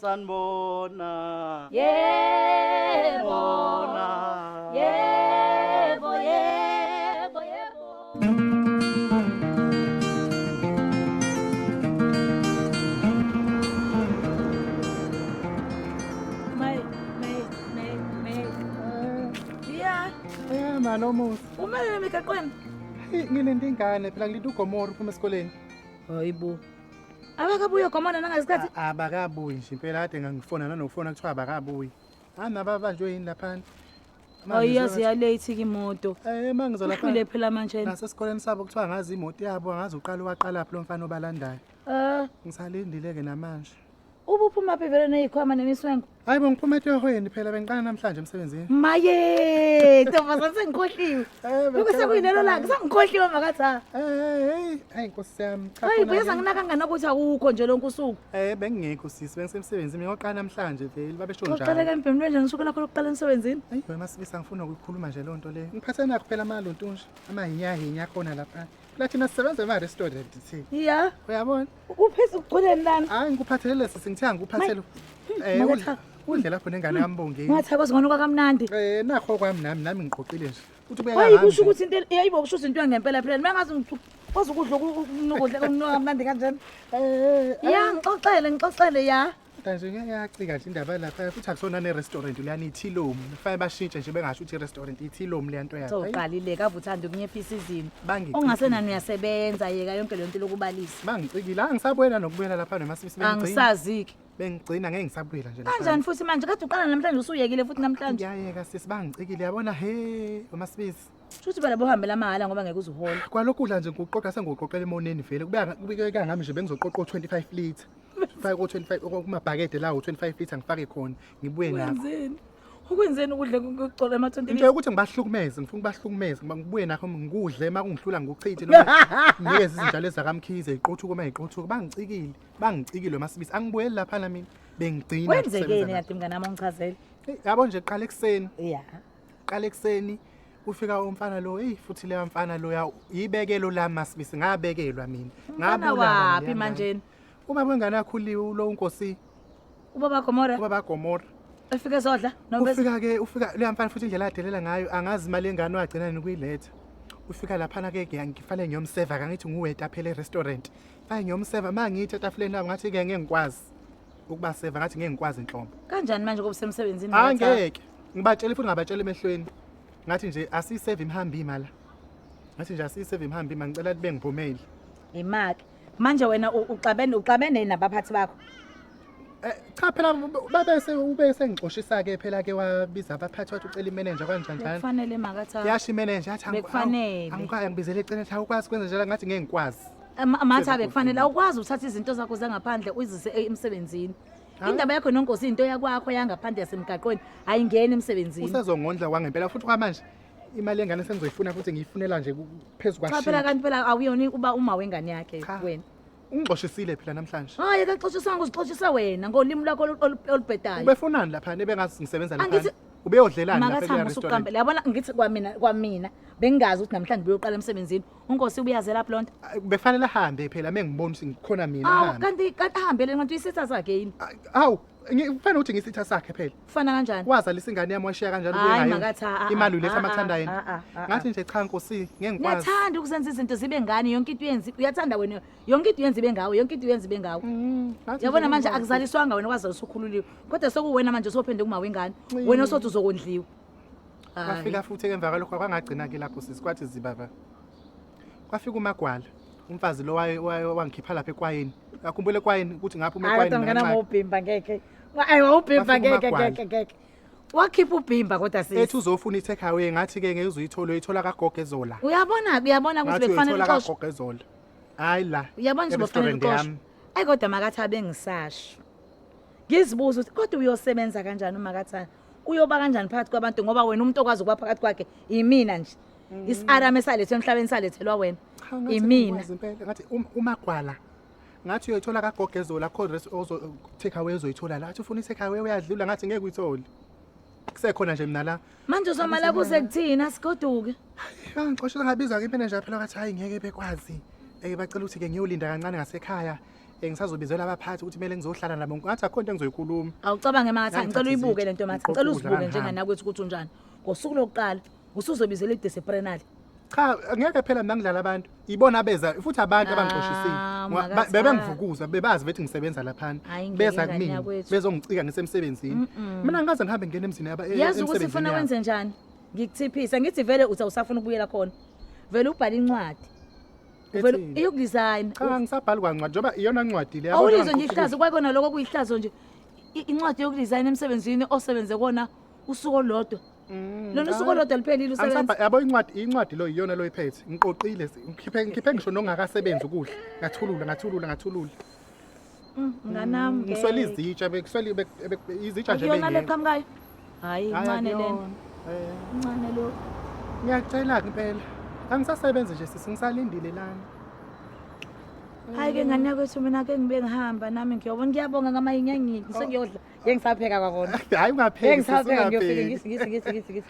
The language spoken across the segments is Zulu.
sanibona yebo bona yebo yebo yebo May, may, may, may. Yeah, Eh mani omuhle. umelele emigaqweni. Hey, Ngilinde ingane phela ngilinde ugomora uphuma esikoleni. Hayibo. Abakabuye gomona nangasikhathi. Abakabuyi nje impela kade ngangifona nanokufona kuthiwa abakabuyi. Hana ah, babanjwe yini laphana? Ayiyazi ya late ke imoto. Eh mangizo lapha. Ukhule phela manje. Nasesikoleni sabo kuthiwa ngazi imoto yabo angazi uqala waqala phi lo mfana obalandayo. Eh ngisalindile ke namanje. Ubuphuma phi vele nezikhwama nemiswengo? Hayi bo ngiphuma etohweni phela bengiqala namhlanje emsebenzini. Maye, ntombazane sengikhohliwe. Eh, Lokhu sekuyilelo lakhe, sengikhohliwe makathi ha. Eh, hey, hey Nkosi yami. cha Hayi khona buya ke- sanginaka kangana ukuthi awukho nje lonke usuku. Eh bengingekho sisi bengisemsebenzini ngoqala namhlanje vele babesho Uqale njalo. ke mbhemlwe nje ngisuku lakho lokuqala emsebenzini. Ayi wena masibisa ngifuna ukuyikhuluma nje lonto le. Ngiphathe nakho phela amaluntunje amahinyahinya khona lapha. la thina sisebenza ema-restaurant thi ya uyabona uphisa ugculeni lana hayi ngikuphathelele sisi ngithiya ngikuphathele Eh, Maka udle- Thabo. udle lapho nengane yami bongeni ungathako zingona kwakamnandi Eh, nakho kwami nami nami ngiqoqile nje uthi ubeka hayi ngami kusho nje. ukuthi into el- yayibo kusho ukuthi into yangempela phela mangazi ngithi kwazi ukudla uku- uku- ukudla okunuka kamnandi kanjena Eh, ya ngixoxele ngixoxele ya Kanje ngeke yacika nje indaba lapha futhi akusona ne restaurant leyana ithilomu. Kufanele bashintshe nje bengasho ukuthi restaurant ithilomu leya nto yakhe. Ayi, Sowuqalile kavu uthanda ukunciphisa izimo. Bangicikile. Ongasenani uyasebenza yeka yonke le nto lokubalisa. Bangicikile. Angisabuyela nokubuyela lapha nomasisi bengigcina. Angisazi-ke. Bengigcina ngeke ngisabuyela nje lapha. Kanjani futhi manje kade uqala namhlanje usuyekile futhi namhlanje. Ngiyayeka sisi bangicikile yabona he umasibisi. Shuthi phela bohambela amahhala ngoba ngeke uzihola. Kwalokudla nje ngiwuqoqa sengiwuqoqela emoneni vele. Kubeka kubikeka ngami nje bengizoqoqa o25 litre. ngifake ko-25 kumabhakede lawo 25 feet angifake khona ngibuye nakho Wenzeni? Ukwenzeni ukudla kucola ama 20 into yokuthi ngibahlukumeze ngifuna ukubahlukumeza ngiba- ngibuye nakho ngikudle uma kungihlula ngikuchithe noma nginikeze izitshalo ezakamkhize iqothuko uma iqothuko bangicikile bangicikile masibisi angibuyeli laphana mina bengigcina Kwenzekeni ukusebenza kade mngane wami ongichazele? nakho. Eyi, yabo nje qala ekuseni Yeah. qala ekuseni ufika umfana lo eyi futhi leya mfana loya yibekelo lami masibisi ngabekelwa mina Mfana Ngabulawa waphi ngiya manje? ngale. Uma kwengane akhuliwe ulo unkosi. Ubaba Gomora. Ubaba Gomora. Efike zodla noma ufika ke ufika leya mfana futhi indlela adelela ngayo angazi imali engane wagcina nokuyiletha. Ufika lapha na ke ngifane ngiyomseva kangithi nguweta phela e-restaurant. Fane ngiyomseva mangithi etafuleni lapho ngathi ke ngeke ngikwazi ukuba seva ngathi ngeke ngikwazi inhlombo. Kanjani manje kube semsebenzini? Angeke. Ngibatshele futhi ngabatshela emehlweni. Ngathi nje asiyiseve imhambi imali. Ngathi nje asiyiseve imhambi imali ngicela libe ngiphumeli. Imaki. manje wena uxabene uxabene nabaphathi bakho eh, cha phela babese ubese ngixoshisa ke phela ke wabiza abaphathi wathi ucela imanager kanjani kanjani kufanele makatha yasho imanager athi angikufanele angikwazi ngibizele ecela athi awukwazi kwenza njalo ngathi ngeke ngikwazi amatha bekufanele awukwazi uthatha izinto zakho zangaphandle uyizise e, emsebenzini indaba yakho nonkosi into yakwakho yangaphandle yasemgaqweni ayingeni emsebenzini usezongondla kwangempela futhi kwamanje imali yengane sengizoyifuna futhi ngiyifunela nje phezu Cha phela kwashintsha kanti phela awuyona uba uma wengane yakhe Cha. wena. ungixoshisile phela namhlanje Hayi akaxoshisanga uzixoshisa wena ngolimi lwakho olu- olu- olubhedayo. ubefunani laphana ebengazi ngisebenza Angithi- laphana ubeyodlelani lapha Makathamba kule usuqambe. restaurant Yabona ngithi kwamina kwamina bengazi ukuthi namhlanje uyoqala emsebenzini. UNkosi ubuyazela lapho lonto. Ay, befanele ahambe phela mengibona ukuthi ngikhona mina Awu ahambe kanti kanti ahambele ngathi uyisitha sakhe yini? Ay, awu Ngifana ukuthi ngisitha sakhe phela. Kufana kanjani? Wazalisa ingane yami washiya kanjalo kuye Hayi ngayo. makathi ah, ah, Imali ah, uletha ah, amathandwa ah, yena. ah, ah, ah. Ngathi nje cha nkosi ngeke ngikwazi. Niyathanda ukuzenza izinto zibe ngani yonke into yenzi uyathanda wena yonke into yenzi ibe ngawe yonke into yenzi ibe ngawe. Mm, ngathi nje Yabona manje ngeke ngikwazi. akuzaliswanga wena kwaze usukhululiwe. Kodwa sekuwena manje osophinde kumawe ingane. Mm. Wena osothi uzokondliwa. Hayi. Kwafika futhi emva kwalokho kwangagcina ke lapho sisi kwathi zibaba. Kwafika umagwala. umfazi lo waye- waye- wangikhipha lapha ekwayeni akhumbule ekwayeni ukuthi ngaphuma hayi kodwa ekwayeni mngane nakancane. wami wawubhimba ngeke ayi wawubhimba Bafuna ngeke umagwala. ngeke ngeke wakhipha ubhimba kodwa ethi sisi uzofuna i-take away ngathi-ke ngeke uzuyithola uyithola kagogo ezola uyabona uyabona ukuthi ngathi bekufanele uyithola uxoshwe kagogo ezola hhayi la uyabona ukuthi bekufanele e-restaurant uxoshwe yami. ayi kodwa makathi abengisasho ngizibuza ukuthi kodwa uyosebenza kanjani umakathana uyoba kanjani phakathi kwabantu ngoba wena umuntu okwazi ukuba phakathi kwakhe yimina nje Mm. Isarame esalethwe emhlabeni salethelwa wena. Imina. Ngathi um, umagwala ngathi uyoyithola kagogezola kho dress ozo take away uzoyithola la athi ufuna i-take away uyadlula ngathi ngeke uyithole kusekhona nje mina la manje uzomala kuze kuthini asigoduke angixoshela ngabizwa kimi nje phela ngathi hayi ngeke bekwazi eke bacela ukuthi ke ngiyolinda kancane ngasekhaya engisazobizela abaphathi ukuthi kumele ngizohlala nabo ngathi akho into engizoyikhuluma awucabange makathi ngicela uyibuke lento mathi ngicela uzibuke njenganakwethu ukuthi unjani ngosuku lokuqala Usuzobizela idisciplinary. Cha ngeke phela mina ngidlala abantu. Ibona beza futhi abantu abangixoshisile. Ah, Ngoba makaThami. Bebengivukuza bebazi bethi ngisebenza laphana. Hhayi, ngeke Beza ingane kumina yakwethu. bezongicika ngisemsebenzini. Mm-mm. Mina ngikaze ngihambe ngene emzini yaba e- yazi ukuthi emsebenzini ufuna yabo. wenze njani ngikuthiphisa ngithi vele uthi awusafuna ukubuyela khona vele ubhale incwadi vele Ethini? iyokudesign Cha ngisabhali kwancwadi njengoba iyona ncwadi le. awulizwe abantu nje bangikhuthuza. ihlazo kwakona lokho kuyihlazo nje I- incwadi yokudesign emsebenzini osebenze kona usuku olodwa Mm, Lona usuku olodwa luphelile usebenza. Angisaba yabo incwadi incwadi lo iyona lo iphethe. Ngiqoqile si- ngikhiphe ngikhiphe ngisho nongakasebenzi ukudla. Ngathulula ngathulula ngathulula. Mm, Nganami. ngeke. Ngiswele izitsha bekuswele bek- bek- izitsha nje Akuyona bengekho. leqhamukayo. Hayi Hhayi, incane lena. akuyona. Eh, Incane lo. Ngiyacela kuphela. Angisasebenzi nje sisi ngisalindile lana. Hayi ke ngane yakwethu mina ke ngibe ngihamba nami ngiyobona ngiyabonga ngamayinya ngithi sengiyodla. Ngeke ngisapheka kwakona. Hayi ungapheki. Ngeke ngisapheka ngiyofika ngisi ngisi ngisi ngisi ngisi.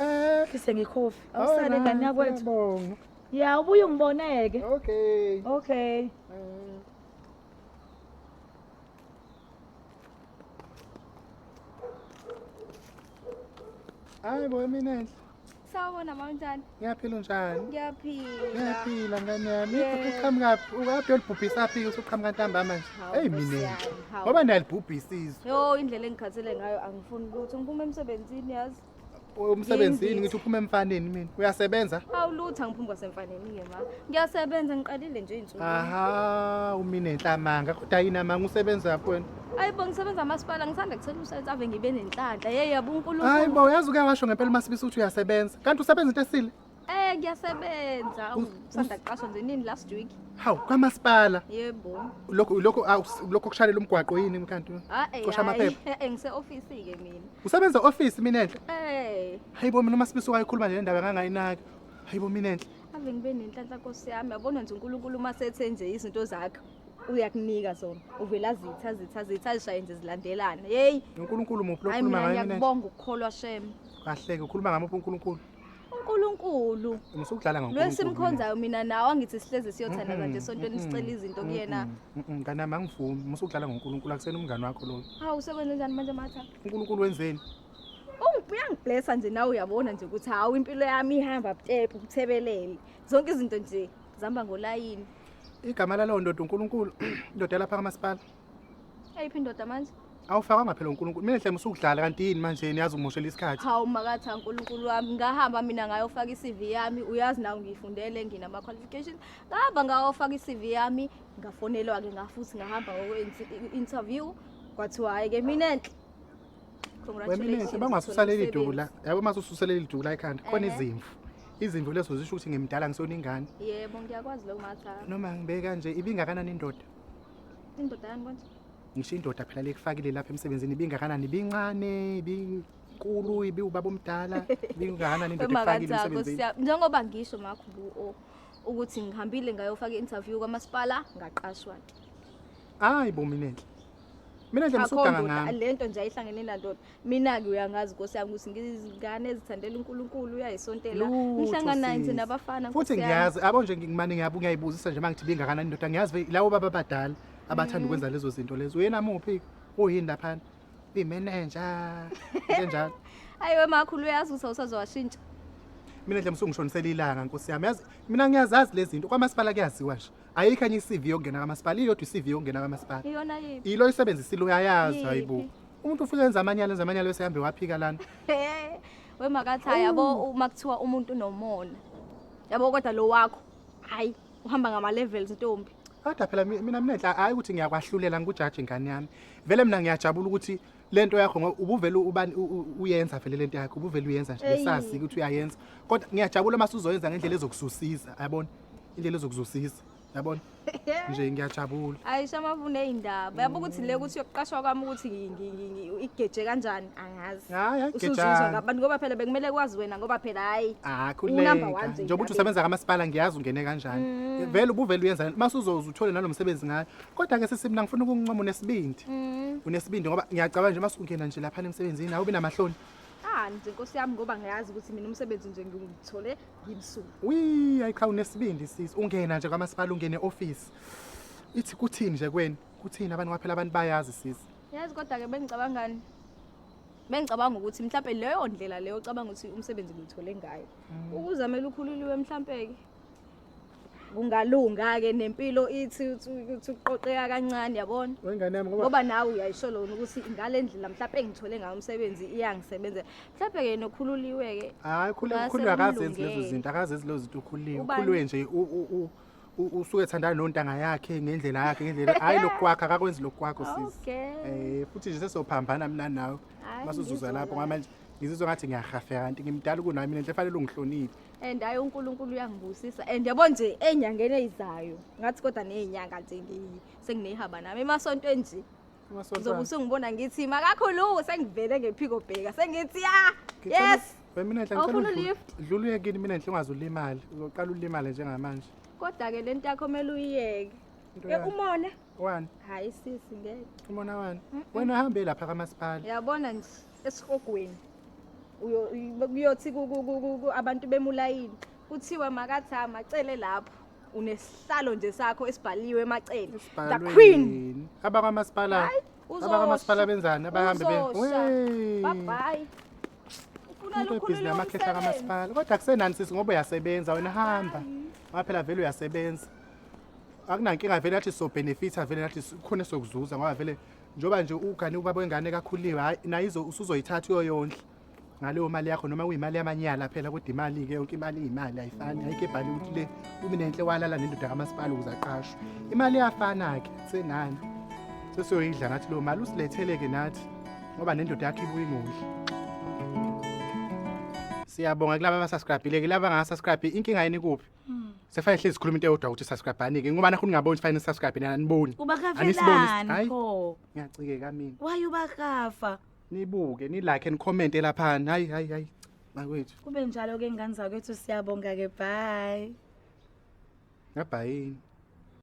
Eh, ngise ngikhofi. Awusale oh, ngani yakwethu. Bonga. Ya ubuye ungiboneke. Okay. Okay. Eh. Hayi bo mina enhle. Sawubona mama unjani? Ngiyaphila unjani? Ngiyaphila. Ngiyaphila ngane yami. Uqhamuka phi? Ukaphi olibhubhisa phi usuqhamuka ntambama nje? Hey mina. Ngoba niyalibhubhisa izwe. Yo indlela engikhathele ngayo angifuni ukuthi ngiphume emsebenzini yazi. Umsebenzini ngithi uphuma emfaneni mina. Uyasebenza? Hawu lutho angiphumi kwasemfaneni ke ma. Ngiyasebenza ngiqalile nje izinsuku. Aha, umine enhlamanga. Kodwa yini amanga usebenza kwena? Ayibo ngisebenza masipala ngisanda kucela umsebenzi ave ngibe nenhlanhla. Hey yabo uNkulunkulu. Hayibo uyazi uke washo ngempela uMasibisi ukuthi uyasebenza. Kanti usebenza into esile? Eh ngiyasebenza. Ngisanda kuqashwa nje nini last week. Hawu kwamasipala. Yebo. Lokho lokho lokho kushalela umgwaqo yini mkanti? Ah, eh, Cosha amaphepha. Eh ngise office ke mina. Usebenza office mina enhle? Eh. Hayibo mina uMasibisi wayikhuluma nje indaba kangayinaki. Hayibo mina enhle. Ave ngibe nenhlanhla Nkosi yami. Yabona nje uNkulunkulu uma sethe nje izinto zakhe. uyakunika zona uvela zitha zitha zitha zishaye nje zilandelana yeyi unkulunkulu muphi hayi lokhuluma mina ngayo mina ngiyakubonga ukukholwa shem kahleke ukhuluma ngamuphi unkulunkulu unkulunkulu musa ukudlala ngankulunkulu lo esimkhonzayo mina nawe angithi sihlezi siyothandaza nje esontweni sicela izinto kuyena mngane wami angivumi musa ukudlala ngonkulunkulu akusena umngane wakho loyo hawu sekwenze njani manje matha unkulunkulu wenzeni Ungi- uyangiblessa nje nawe uyabona nje ukuthi hawu impilo yami ihamba butepu kuthebelele zonke izinto nje zihamba ngolayini igama lalowo ndoda unkulunkulu indoda yalapha kamasipala eyiphi indoda manje awufakwanga phela unkulunkulu mina hlema usukudlala kanti yini manje niyazi ungimoshela isikhathi hawu makatha unkulunkulu wami ngahamba mina ngayofaka i-cv yami uyazi nawe ngiyifundele nginama-qualification ngahamba ngayofaka i-cv yami ngafonelwa-ke ngafuthi ngahamba ngokwe-interview kwathiwa hhayi-ke mina enhle weminensi bangasusa leli duku la yabo uma ususa leli duku la ekhanda khona izimvu izimvu lezo zisho ukuthi ngimdala ngisona ingane yebo ngiyakwazi lokho matha noma ngibe kanje ibingakanani indoda indoda yani konje ngisho indoda phela lekufakile lapha emsebenzini ibingakanani ibincane ibinkulu ibi ubaba omdala ibingakanani indoda ekufakile emsebenzini njengoba ngisho makho bu ukuthi ngihambile ngayofaka i-interview kwamasipala ngaqashwa ke hayi bominenhle Mina nje Akho ngisuganga ndoda, ngami. lento nje ayihlangene nandoda mina-ke uyangazi nkosi yami ukuthi ngizingane ezithandela unkulunkulu uyayisontela Lutho, ngihlangana naye nje sis. nabafana Futhi nkosi yami. ngiyazi abo nje ngimane ngiyabu ngiyayibuzisa nje mangithi bingakanani indoda ngiyazi ve- lawo baba abadala abathanda Mm. ukwenza lezo zinto lezo. Uyena muphi? Uyini laphana? Uyimenenja. Kanjalo. ayi wemakhulu uyazi ukuthi awusazowashintsha Mina nje msungishonisela ilanga nkosi yami. Yazi mina ngiyazazi lezi zinto kwamasipala kuyaziwa nje. ayikho enye i-CV yokungena kamasipala iyodwa i-CV yokungena kamasipala iyona yiphi yilo isebenzisile uyayazi Yiphi? hayibo umuntu ufike enza amanyala enza amanyala bese hambe waphika lana we makathaya yabo uma kuthiwa umuntu unomona yabo kodwa lo wakho hayi uhamba ngama-levels ntombi kodwa phela mi- mina minenhla hhayi ukuthi ngiyakwahlulela ngikujaji ingane yami vele mina ngiyajabula ukuthi le nto yakho ngoba ubuvele ubani- u- u- uyenza vele le nto yakho ubuvele uyenza nje Eyi. ngesazi ukuthi uyayenza kodwa ngiyajabula uma suzoyenza ngendlela ezokususiza yabona indlela ezokuzosisa yabona nje ngiyajabula ayisho amavune ey'ndaba yabo ukuthi le ukuthi yokuqashwa kwami ukuthi ngi- ngi- ngi- ngi- igeje kanjani angazi Hhayi, hhayi, usuzuzwa gejani. ngabantu ngoba phela bekumele kwazi wena ngoba phela hhayi Ah, Unumber one khuleka nje njengoba uthi indaba. usebenza kamasipala ngiyazi ungene kanjani Mm. vele ubuvele uyenza uma usuzoze uthole nalo msebenzi ngayo kodwa ke sisi mina ngifuna ukungincoma unesibindi Mm. unesibindi ngoba ngiyacabanga nje uma sungena nje laphana emsebenzini awubi namahloni Ah, nje nkosi yami ngoba ngiyazi ukuthi mina umsebenzi nje ngiwuthole ngimsuka wi ayiqha unesibindi sisi ungena nje kwamasipala ungene office ithi kuthini nje kweni kuthini abantu kwaphela abantu bayazi sisi yazi kodwa ke bengicabangani bengicabanga ukuthi mhlawumbe leyo ndlela leyo ocabanga ukuthi umsebenzi ngithole ngayo ukuzamela ukhululiwe mhlawumbe ke kungalunga-ke nempilo ithi ukuthi uqoqeka kancane yabona wengane yami ngoba ngoba nawe uyayisho lona ukuthi ngale ndlela mhlawumpe engithole ngayo umsebenzi iyangisebenzela mhlawumpe-ke nokhululiwe-ke hayi khule Ngase ukhulwe akazenzi lezo kulungele. zinto akazenzi lezo zinto ukhuliwe Ubani? ukhulwe nje u- u- u- u- usuke ethandana nontanga yakhe ngendlela yakhe ngendlela hhayi lokhu kwakho akakwenzi lokhu kwakho sisi okay um futhi nje sesophambana mina nawe Hhayi, masuzuza lapho ngizwa ngama nje ngizizwa ngathi ngiyahafeka kanti ngimdala kunami mina nje fanele ungihloniphe and hayi uNkulunkulu uyangibusisa and yabo nje enyangeni eyizayo ngathi kodwa nezinyanga nje ngiyi senginehaba nami emasonto enje ngizobe usungibona ngithi makakhuluku sengivele ngephiko bheka sengithi ya yes mina nhle ngicela lift dlula uye kini mina nhle ungaze ulimale uzoqala ulimale njengamanje kodwa ke lento yakho mele uyiyeke Eh umona wani hayi sisi ngeke umona wani wena uhambe lapha kamasipala yabona nje esihogweni kuyothi abantu bemulayini kuthiwa makathi amacele lapho unesihlalo nje sakho esibhaliwe emacele the queen abakwamasipala abakwamasipala benzani abahambe bye ubhizi amakhehla kamasipala kodwa kusenani sisi ngoba uyasebenza wena hamba waphela vele uyasebenza akunankinga vele nathi sobhenefitha vele nathi khona sokuzuza ngoba vele njengoba nje ugane ubaba wengane kakhuliwe hayi naye izo- usuzoyithatha uyoyondla ngaleyo mali yakho noma kuyimali yamanyala phela kodwa imali-ke yonke imali iyimali ayifani ayikho ebhale ukuthi le umi nenhle walala nendoda kamasipala ukuze aqashwe imali iyafana-ke senani sesiyoyidla nathi leyo mali usilethele-ke nathi ngoba nendoda yakho ibuye ingondli siyabonga kulaba abasascribhile-ke laba angasascribhi inkinga yini kuphi Sefane hlezi sikhuluma into eyodwa ukuthi subscribe anike ngoba nakho ningaboni sifane subscribe nina niboni. Ubakafelani Anisiboni- Hayi. pho? Ngiyacikeka mina. Why ubakafa? Nibuke ni like and comment elaphana. Hayi hayi hayi. Makwethu. Kube njalo ke ngane zakwethu siyabonga ke bye. Ngabhayini.